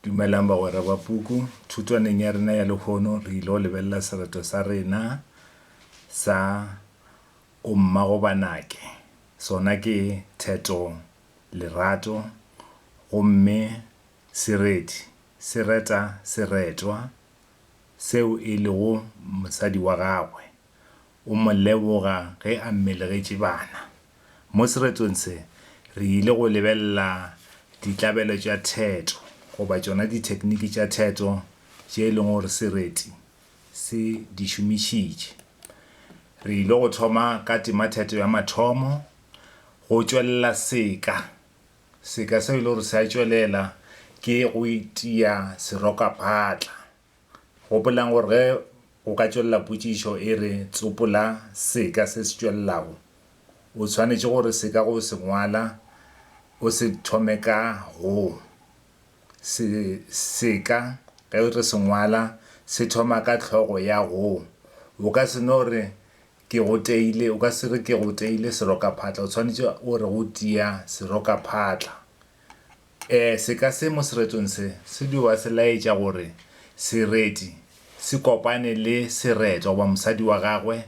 Dumelang bagwera ba puku. Thutwaneng ya rena ya lehono re ile go lebelela sereto sa rena sa O Mmagobanake. Sona ke theto, lerato, gomme sereti se reta seretwa seo e lego mosadi wa gagwe. o mo leboga ge a mmelegetše bana. Mo seretong se, re ile go lebelela ditlabelo tša theto, goba tšona dithekniki tša theto tše e lego gore sereti se di šomišitše. Re ile go thoma ka tematheto ya mathomo, go tšwelela seka. Seka seo e lego gore se a tšwelela ke go itia serokaphatla. Gopolang gore ge o ka tšwelela potšišo e re tsopola seka se se tšwelelago, o tshwanetše gore seka go se ngwala o se thome ka go. Se, seka ge re se ngwala se thoma ka hlogo ya go. O ka se no re, Ke go teile, o ka se re, Ke go teile serokaphatla. O tshwanetše o re, Go tia serokaphatla. Seka se mo seretsong se se dio ba se laetša gore sereti se kopane le seretwa goba mosadi wa gagwe.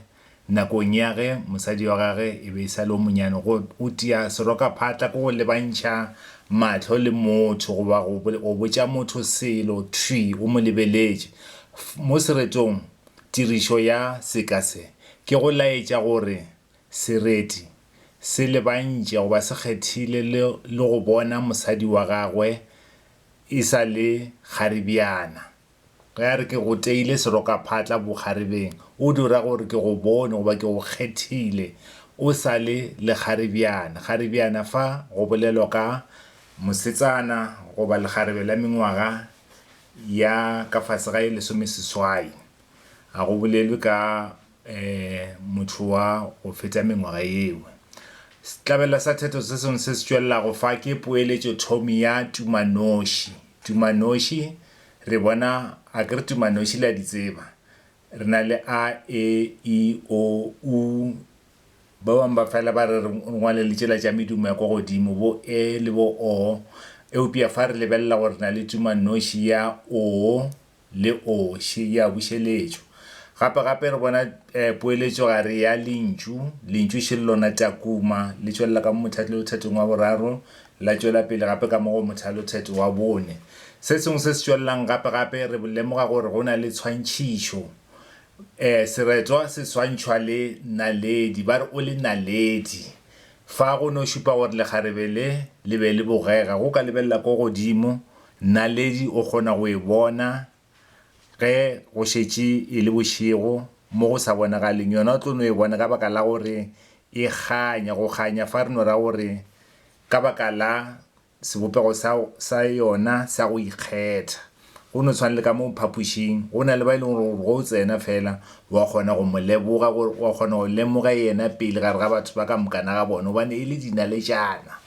Nakong ya ge mosadi wa gagwe e be e sa le yo monnyane, go go tia serokaphatla ke go lebantšha mahlo le motho goba go go botša motho selo thwi o mo lebeletše. Mo seretong tirišo ya seka se ke go laetša gore Sereti se lebantše go ba se kgethile le le go bona mosadi wa gagwe e sa le kgaribjana. Ge a re ke go teile serokaphatla bokgarebeng, o dio ra gore ke go bone goba ke go kgethile o sa le lekgaribjana. Kgaribjana fa go bolelwa ka. Mosetsana goba lekgarebe la mengwaga ya ka fase ga e lesomeseswai. Ga go bolelwe ka. motho wa go feta mengwaga yeo. Sehlabela sa theto se sengwe se se tšwelelago fa ke poeletšothomi ya tumanoši. Tumanoši, re bona, a ke re tumanoši le a di tseba? Re na le a, e, i, o, u, ba bangwe ba fela ba re re ngwale le tšela tša medumo ya kwa godimo, bo, e le bo, o, eupša fa re lebelela gore re na le tumanoši ya, o, le oxe ya bušeletšo. Gape gape re bona poeletšo gare ya lentšu, lentšu še le lona Takuma, le tšwelela ka mo mothatelothetong wa boraro, la tšwela pele gape ka mo go mothalotheto wa bone. Se sengwe se se tšwelelang gape gape re lemoga gore go na le tshwantšhišo. Seretwa se swantšhwa le naledi, ba re o le naledi. Fa go no šupa gore lekgarebe le le be le bogega, go ka lebelela ko godimo Naledi o kgona go e bona ge go šetše e le bošego mo go sa bonagaleng. Yona o tlo no e bona ka baka la gore e kganya. Go kganya fa re no ra gore ka baka la sebopego sa sa yona sa go ikgetha. Go no tshwana le ka mo phapošing, go na le ba e leng gore ge o tsena fela wa kgona go mo leboga, wa kgona go lemoga yena pele gare ga batho ba ka moka na ga bona gobane e le dinaletšana.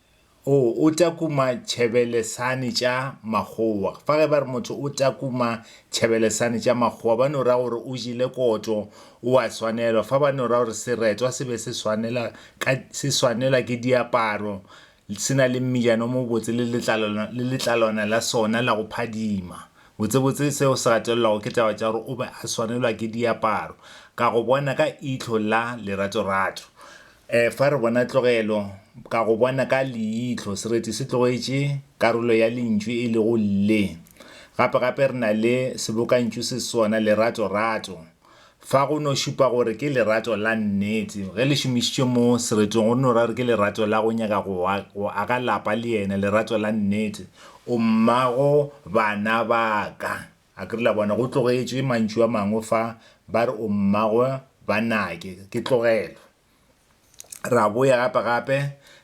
O o takuma tšhebelesane tša makgowa. Fa ge ba re motho o takuma tšhebelesane tša makgowa, ba no ra gore o jele koto, o a swanelwa. Fa ba no ra gore seretwa se be se swanela ka, se swanelwa ke diaparo, se na le mmijana o mobotse le letlalwana, le letlalwana la sona la go phadima. Botsebotse seo se gatelelwago ke taba tša gore o be a swanelwa ke diaparo, ka go bona ka ihlo la leratorato. Efa re bona tlogelo, ka go bona ka leihlo, sereti se tlogetše karolo ya lentšu e lego le. Gape gape re na le sebokantšu se sona, lerato, rato. Fa go no šupa gore ke lerato la nnete. Ge le šomišitšwe mo sereting go no ra gore ke lerato la go nyaka go wa, go aga lapa le yena, lerato la nnete. O mmago bana ba ka. A ke re la bona, go tlogetše mantšu a mangwe fa, ba re o mmagwe ba Nake. Ke tlogela. Ra boya gape gape,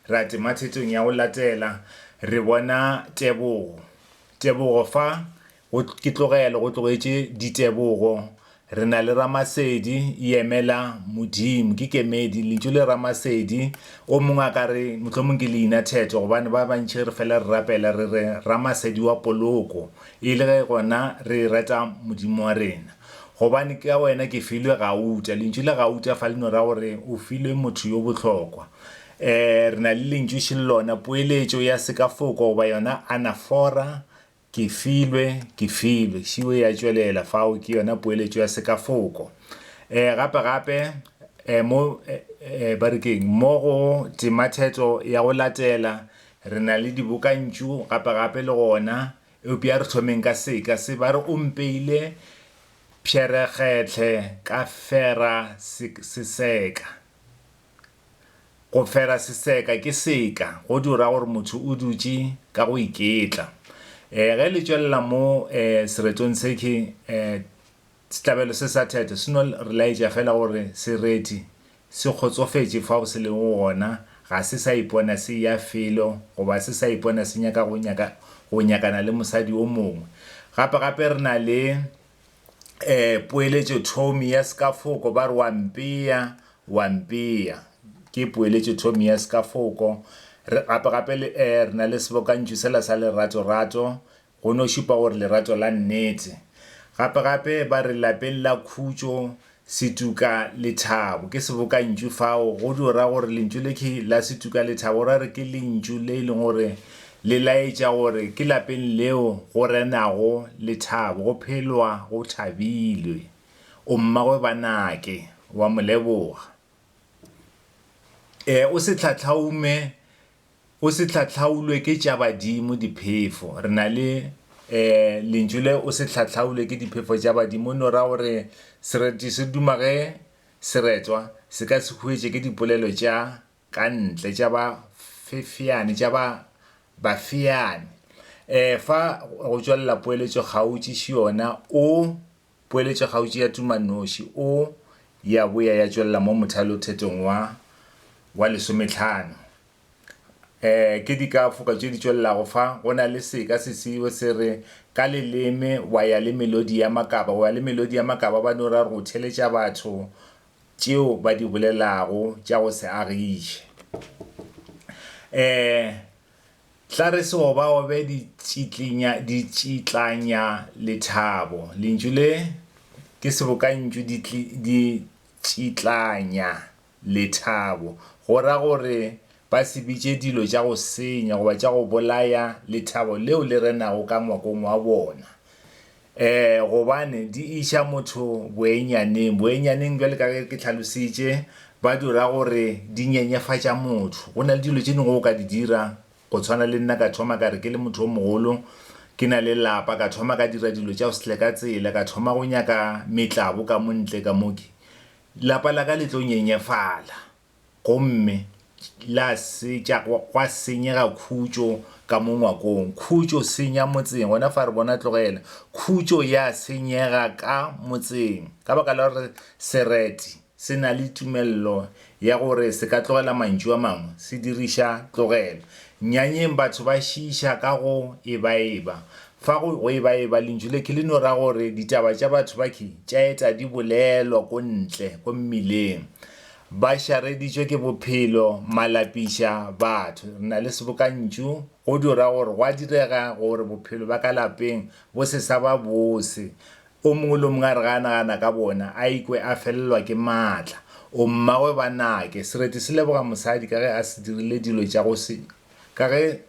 ra tema thetong ya go latela, re bona Tebogo. Tebogo fa, go, ke tlogela, go tlogetše Ditebogo, Re na le Ramasedi, Yemela, Modimo. Ke kemedi. Lentšu le Ramasedi. O mongwe a ka re, Mohlomong ke leina theto, gobane ba bantši re fela re rapela re re, Ramasedi wa poloko, e le ge gona re e rata Modimo wa rena. Gobane ka Wena ke filwe gauta. Lentšu le gauta fa le no ra gore o filwe motho yo bohlokwa. Ee, re na le lentšu šelona, poeletšo ya sekafoko goba yona anafora, Ke filwe, ke filwe. Šiwe ya tšwelela, Fao ke yona poeletšo ya sekafoko. E, gape-gape, e, mo, e, e, ba re ke'ng? Mo go Tematheto ya go latela, re na le dibokantšu, gape-gape le gona, eupša re thomeng ka seka se. Ba re o mpeile pšherekgetlhe ka fera se, seseka. Go fera seseka ke seka, go di o ra gore motho o dutše ka go iketla. Eh, ge le tšwelela mo eh, seretong seke, eh, sehlabelo se sa theto se no re laetša fela gore sereti se kgotsofetše fao se lego gona, ga se sa ipona se eya felo goba se sa ipona se nyaka go nyaka, go nyakana le mosadi o mongwe. Gape-gape re na le um poeletšothomi ya sekafoko ba re wa mpea, wa mpea. Ke poeletšothomi ya sekafoko. Re gape gape le um re na le sebokantšu sela sa lerato rato go no šupa gore lerato la nnete. Gape gape ba re lapeng la khutšo Setuka lethabo ke sebokantšu fao go tšo ra gore lentšu le ke la setuka lethabo ra re ke lentšu le e leng gore le laetša gore ke lapeng leo go renago lethabo go phelwa go thabilwe. O mmagwe ba nake wa mo leboga. E o se tlhatlhaume O se hlahlaulwe ke tša badimo diphefo. Re na le eh lentšu le o se hlahlaulwe ke diphefo tša badimo e no ra gore sereti se duma ge seretwa se ka se huetše ke dipolelo tša ka ntle tša ba fefeane tša ba bafeane. Eh fa go tšwelela poeletšo kgautši ši yona o. Poeletšokgautši ya tumannoši o ya boya ya tšwelela mo mothalothetong wa wa lesometlhano. E, ke dikafoka tše di tšwelelago fa, go na le seka se seo se re, Ka leleme wa ya le melodi ya makaba, wa ya le melodi ya makaba, ba no ra go theletša batho tšeo ba di bolelago tša go se agiše. E, Tla re se obaobe ditšitlanya lethabo. Lentšu le ke sebokantšu ditšitlanya lethabo, go ra gore ba se bitše dilo tša go senya goba tša go bolaya lethabo leo le renago ka ngwakong wa bona. Ee, gobane di iša motho boenyaneng. Boenyaneng, bjale ka ge ke tlhalositše, ba di ra gore di nyenyefatša motho. Go na le dilo tše dingwe o ka di dira, go tshwana le nna ka thoma ka re ke le motho o mogolo, ke na le lapa, ka thoma ka dira dilo tša sle ka tsela, ka thoma go nyaka metlabo ka mo ntle ka mo ke, lapa la ka le tlo nyenyefala. Gomme la setša, gwa senyega khutšo ka mo ngwakong. Khutšo senya motseng, gona fa re bona, tlogela. Khutšo ya senyega ka motseng, ka baka la gore sereti se na le tumello ya gore se ka tlogela mantšu a mangwe, se diriša tlogelo. Nnyanyeng batho ba šiiša ka go ebaeba. Fa go, go ebaeba, lentšu le ke le no ra gore ditaba tša batho ba ke tša eta di bolelwa ko ntle, ko mmileng. Ba šareditšwe ke bophelo, malapiša, batho. Re na le sebokantšu, go di ra gore gwa direga gore bophelo ba ka lapeng bo se sa ba bose. O mongwe le o mongwe a re ga a nagana ka bona, a ikwe a felelwa ke maatla. O mmagwe ba nake. Sereti se leboga mosadi ka ge a se dirile dilo tša go se, ka ge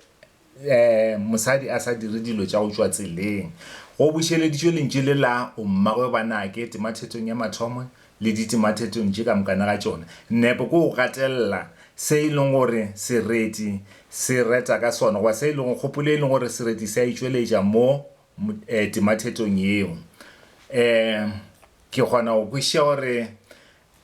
mosadi a sa dire dilo tša go tšwa tseleng. Go bušeleditšwe lentšu le la O mmagwe ba nake temathetong ya mathomo le ditemathetong tše ka mokana ga tšona. Nepo ke go gatelela se e leng gore sereti se reta ka sona goba se e lego kgopolo e leng gore sereti se a e tšweletša mo temathetong yeo. Ke kgona go kwešiša gore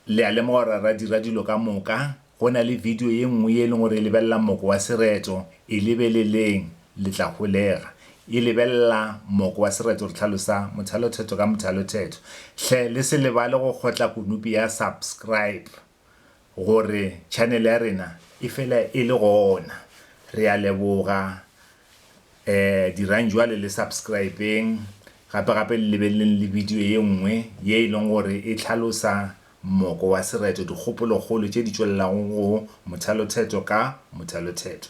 Le a lemoga gore ra dira dilo ka moka. Go na le bidio ye nngwe ye e leng gore e lebelela moko wa sereto, E lebeleleng, le tla holega. E lebelela moko wa sereto, re hlalosa mothalothetho ka mothalothetho. Hle le se lebale go kgotla konopi ya Subscribe gore channel ya rena e fela e le gona. Re a leboga Eh dirang jwale le subscribeng gape gape le lebeleleng le video ye nngwe ye e leng gore e tlhalosa mmoko wa sereto, dikgopolokgolo tše di tšwelelago go mothalothetho ka mothalothetho.